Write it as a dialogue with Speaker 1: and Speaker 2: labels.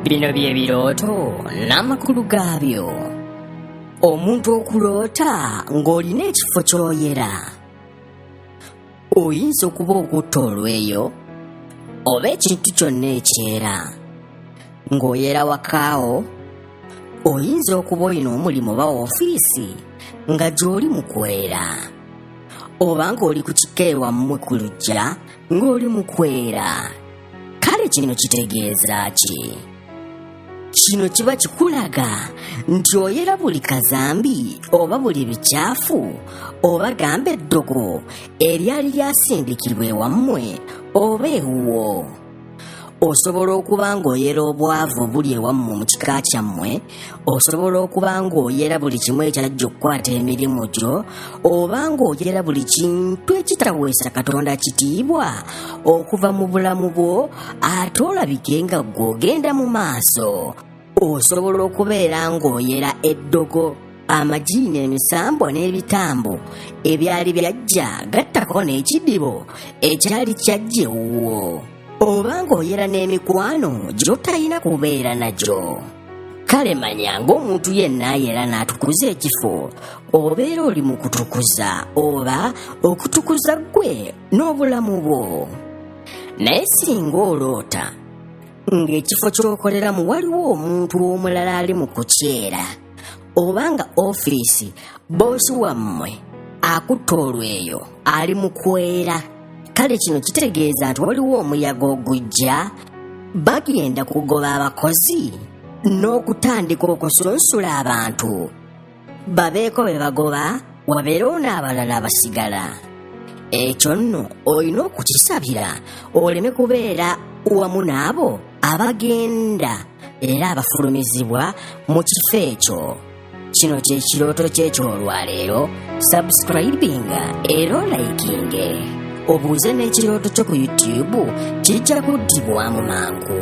Speaker 1: bino bye birooto n'amakulu gaabyo omuntu okuloota ng'olina ekifo ky'oyera oyinza okuba okutta olweyo oba ekintu kyonna ekyera ng'oyera wakaawo oyinza okuba olina omulimu oba ofiisi nga gy'oli mu kwera oba ng'oli ku kikeerwammwe ku lujja ng'oli mu kwera kale kino kitegeeza ki kino kiba kikulaga nti oyera buli kazambi oba buli bikyafu oba gamba eddogo eryali lyasindikirwa ewammwe oba ewuwo osobola okuba ng'oyera obwavu obuli ewammwe mu kika kyammwe osobola okuba ng'oyera buli kimu ekyajja okukwata emirimu gyo oba ng'oyera buli kintu ekitaweesa katonda kitiibwa okuva mu bulamu bwo ate olabike nga gw'ogenda mu maaso osobola okubeera ng'oyera eddogo amagi n'emisambwa n'ebitambo ebyali byajja gattako n'ekidibo ekyali kyajja ewuwo oba ng'oyera n'emikwano gy'otalina kubeera nagyo kale manya ng'omuntu yenna ayera n'atukuza ekifo obeera oli mu kutukuza oba okutukuza ggwe n'obulamu bwo naye singa oloota ng'ekifo ky'okoleramu waliwo omuntu omulala ali mu kukyera oba nga ofiisi boosi wammwe akutte olweyo ali mu kwera kale kino kitegeeza nti waliwo omuyaga ogujja bagenda kugoba abakozi n'okutandika okusunsula abantu babeeko be bagoba wabeerewo n'abalala abasigala ekyo nno olina okukisabira oleme kubeera wamu n'abo abagenda era abafulumizibwa mu kifo ekyo kino kye kirooto kyekyolwaleero subscribinga era olayikinge obuuze n'ekirooto kyo ku youtube kijja kuddibwamu mangu